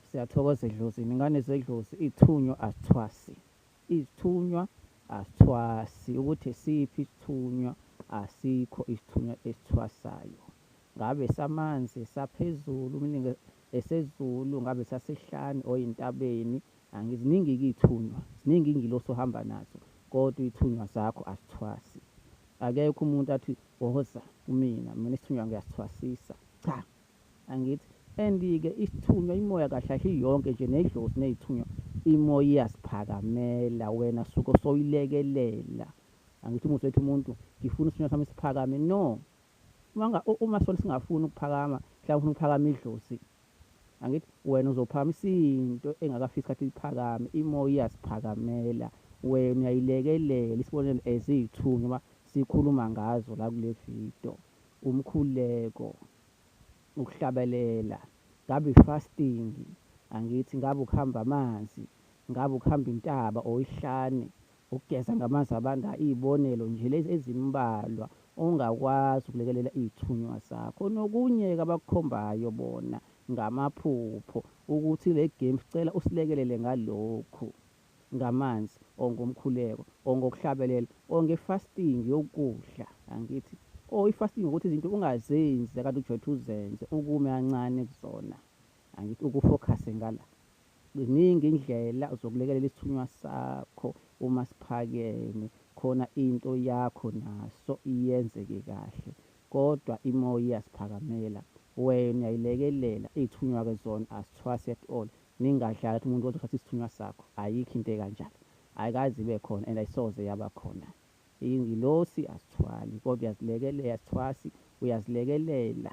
Siyathokoza edlozini ingane zedlozi ithunywa asithwasi izithunywa asithwasi ukuthi siphi isithunywa asikho isithunywa esithwasayo ngabe samanzi saphezulu umningi esezulu ngabe sasihlani oyintabeni angiziningi kuyithunywa ziningi ingilosi ohamba nazo kodwa ithunywa zakho asithwasi akekho umuntu athi woza kumina mina isithunywa ngiyasithwasisa cha angithi and-ke isithunywa imoya kahle kahle iyonke nje nedlozi neyithunywa imoya iyasiphakamela wena suke soyilekelela angithi umuthi wethu umuntu ngifuna isithunywa sami siphakame no uma sona singafuni ukuphakama mhlawumbe ufuna ukuphakama idlozi angithi wena uzophakama isinto engakafiki isikhathi liphakame imoya iyasiphakamela wena uyayilekelela isibonelo as iyithunywa uma sikhuluma ngazo la kule video Umkhuleko, ukuhlabelela, ngabe i fasting angithi, ngabe ukuhamba amanzi, ngabe ukuhamba intaba or ihlane, ukugeza ngamanzi abandayo, izibonelo nje lezi ezimbalwa ongakwazi ukulekelela izithunywa zakho. Nokunye ke abakukhombayo bona ngamaphupho ukuthi le game sicela usilekelele ngalokhu. ngamanzi or ngomkhuleko or ngokuhlabelela or ngefasting yokudla angithi or ifasting ukuthi izinto ungazenzi kanti ujwethu uzenze ukume kancane kuzona angithi ukufokhase ngala ziningi indlela zokulekelela isithunywa sakho uma siphakeme khona into yakho naso iyenzeke kahle kodwa imoya iyasiphakamela wena uyayilekelela iy'thunywa-ke zona asithwasi at all Ningadlali athi umuntu ozothatha isithunywa sakho. Ayikho into ekanjalo. Ayikaze ibe khona and ayisoze yaba khona. Ingilosi asithwali kodwa uyazilekelela, asithwasi, uyazilekelela.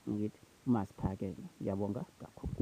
Ngithi uMasiphakela. Ngiyabonga kakhulu.